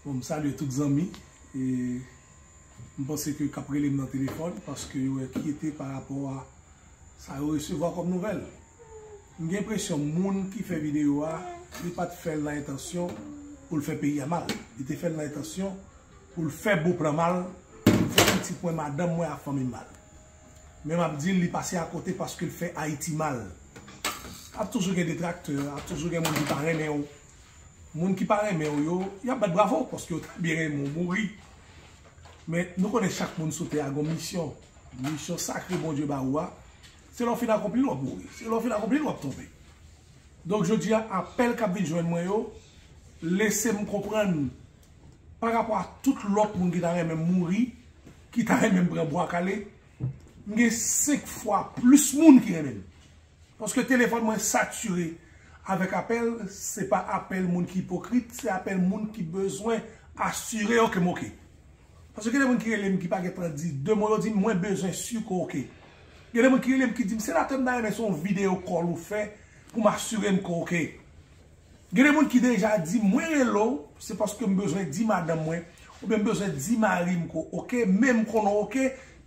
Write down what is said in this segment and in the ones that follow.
Bon m salye tout zanmi e m panse ke kap rele m nan telefòn paske yo enkyete pa rapò a sa yo resevwa kòm nouvèl. M gen enpresyon moun ki fè videyo a li pat fè l nan entansyon pou l fè peyi a mal. Li te fè l nan entansyon pou l fè Beauplan mal, pou l fè pitit mwen, madanm mwen ak fanmi m mal. Men m ap di l li pase akote paske l fè Ayiti mal. Ap toujou gen detraktè, ap toujou gen moun ki pa renmen w. Moun ki pa renmen w yo, y ap bat bravo paske yo ta byen renmen w mouri. Men, nou konnen chak moun sou tè a gen yon misyon. Misyon sakre Bondye ba ou a, se lè w fin akonpli l w ap mouri. Se lè w fin akonpli l w ap tonbe. Donk, jodi a, apèl k ap vin jwenn mwen yo lese m konprann pa rapò a tout lòt moun ki ta renmen m mouri, ki ta renmen m pran bwa kale, m gen senk fwa plis moun ki renmen m. Paske telefòn mwen satire avèk apèl, se pa apèl moun ki ipokrit, se apèl moun ki bezwen asire yo ke m ok. Paske gen de moun ki rele m ki pa gen tan di 2 mo, yo di m mwen bezwen si ke w ok. Gen de moun ki rele m ki di m senatè m ta renmen se yon videyo kòl ou fè pou m asire m ke w ok. Gen de moun ki deja di m mwen rele w se paske m bezwen di madanm mwen oubyen m bezwen di mari m ke w ok men m konnen w ok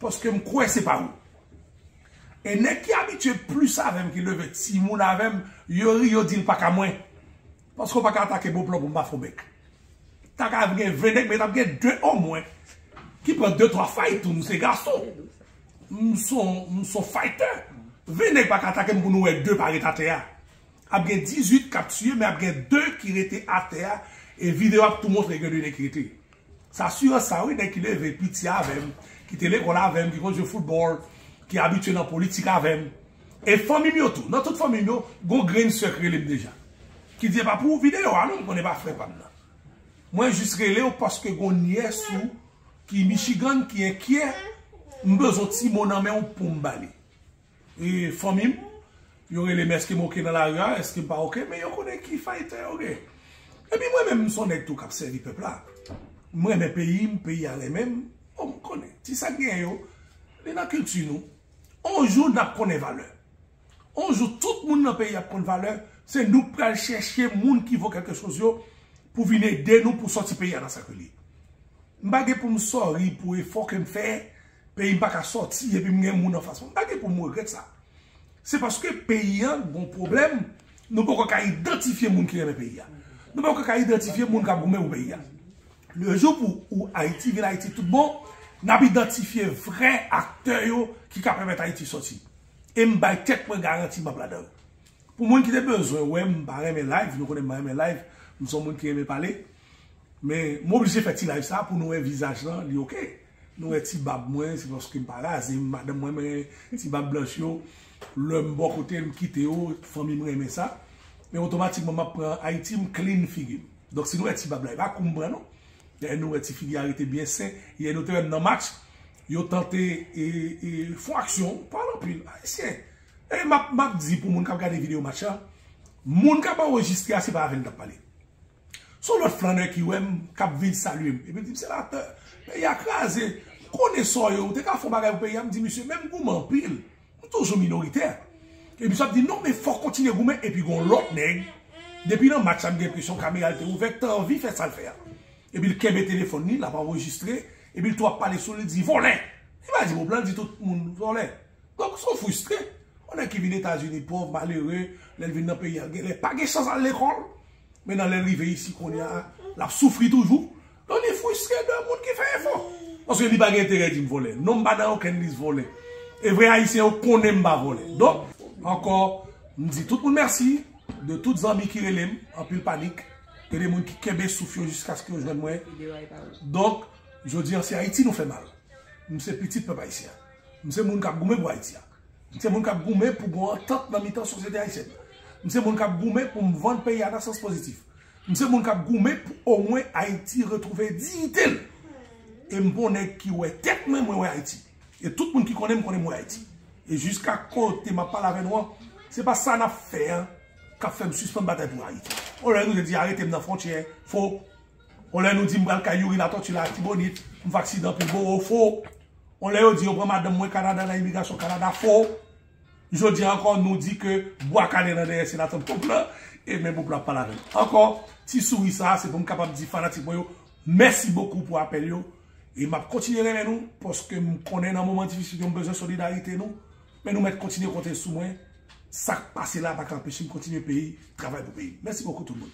paske m kwè se pa ou. E nèg ki abitye plis avèm ki leve timoun avèm yo ri yo dil paka mwen paske ou paka atake bon plan pou mpa fon bèk ta ka gen 20 nèg men tap gen 2 o mwen ki pran 2 3 fay tou mse gason mson faytè 20 nèg paka atake m pou nou wè 2 pa ret atè a ap gen 18 kap tiye men ap gen 2 ki rete atè a e videyo ap tou montre gen 2 nèg ki rete. S asirans sa wi nèg ki leve piti avè m, ki te lekòl avè m, ki konn jwe foutbòl, ki abitye nan politik avè m. E fanmi m yo tou. Nan tout fanmi m yo, gon grenn sè k rele m deja. Ki di epa pou ou videyo a non m konnen e pa frè pa m nan. Mwen jis rele w paske gon nyès ou ki Michigan ki enkyè, m bezwen w ti mo nan men w pou m ba li. E fanmim yo relem eskem ok nan lari a eskem pa ok men yo konnen ki fayton yo gen epi mwen menm m son nèg tou kap sèvi pèp la m renmen peyim peyi a renmenm bon m konnen ti sak genyen yo li nan kilti nou on jou nap konnen valè on jou tout moun nan peyi ap konn valè se nou k pral chèche moun ki vo kèlke choz yo pou vin ede nou pou sòti peyi a nan sa ke li ye m pa gen poum sòri pou efò kem fè Peyi m pa ka sòti epi m gen moun anfas mwen. M pa gen pou m regrèt sa. Se paske peyi an gon pwoblèm, nou poko ka idantifye moun ki renmen peyi a. Nou poko ka idantifye moun k ap goumen pou peyi a. Le jou pou ou Ayiti vin Ayiti tout bon, n ap idantifye vrè aktè yo ki ka pèmèt Ayiti sòti. E m bay tèt mwen garanti m ap ladan yo. Pou moun ki te bezwen wè m pa renmen live, nou konnen m pa renmen live, m son moun ki renmen pale. Men m oblije fè ti live sa pou nou wè vizaj lan li ok. Nou wè ti bab mwen se paske m pa raze m madanm mwen men ti bab blanch yo lè m bò kote m kite yo fanmi m renmen sa men otomatikman map pran ayiti m klin figi m donk si nou wè ti bab la e pa kou m pran non dayè nou wè ti figi a rete byen sen yè nou te wè m nan match yo tante e fon aksyon pale anpil ayisyen e map di pou moun kap gade video match la moun kap anrejistre a se pa avè l tap pale. Son lòt flannè ki wèm kap vin salyem epi l dim senatè peyi a kraze m konnen sa w ye ou te ka fon bagay pou peyi a m di misye menm goumen anpil m toujou minoritè epi misye ap di non men fòk kontinye goumen epi gon lòt nèg depi nan match la m gen enpresyon kamera l te ouvè te anvi fè sa l fè a epi l kenbe telefòn li l ap anrejistre epi l tou ap pale sou li l di vòlè li pa di mo blan l di tout moun vòlè donk son fristre yon nèg ki vin etazini pòv malere lè l vin nan peyi a genlè pa gen chans al lekòl. Men nan lè l rive isi kounye a, l ap soufri toujou. Donk li fristre de moun ki fè efò. Paske li pa gen enterè di m vòlè. Non m pa nan okenn lis vòlè. E vre Ayisyen yo konnen m pa vòlè. Donk, ankò, m di tout moun mèsi. De tout zanmi ki rele m, anpil panik. E de moun ki kenbe souf yo jiskaske yo jwenn mwen. Donk, jodi an se Ayiti nou fè mal. M se pitit pèp Ayisyen. M se moun k ap goumen pou Ayiti a. M se moun k ap goumen pou gon antant nan mitan sosyete ayisyèn nan. M se moun k ap goumen pou m vann peyi a nan sans pozitif. M se moun k ap goumen pou omwen Ayiti retwouve diyite l. E m pa yon nèg ki wè tèt mwen, mwen wè Ayiti. E tout moun ki konnen m konnen m wè Ayiti. E jiska kote m ap pale avè nou an, se pa sa n ap fè an k ap fè m sispann batay pou Ayiti. On lè nou te di arete m nan fwontyè, fo, On lè nou di m pral kay Youri Latortue Latibonit, m vaksin anpil boro, fo. On lè yo di yo pran madanm mwen Kanada nan imigrasyon Kanada, fo. Jodi a ankò nou di ke bwa kale nan dèyè se latant pop la, e men pop la ap pale avè m. Ankò, ti souri sa a se pou m kapab di fanatik mwen yo mèsi bokou pou apèl yo, e m ap kontinye renmen nou paske m konnen nan moman difisil yo m bezwen solidarite nou, men nou mèt kontinye konte sou mwen, sa k pase la a pa ka anpeche m kontinye peyi, travay pou peyi m. Mèsi bokou tout moun.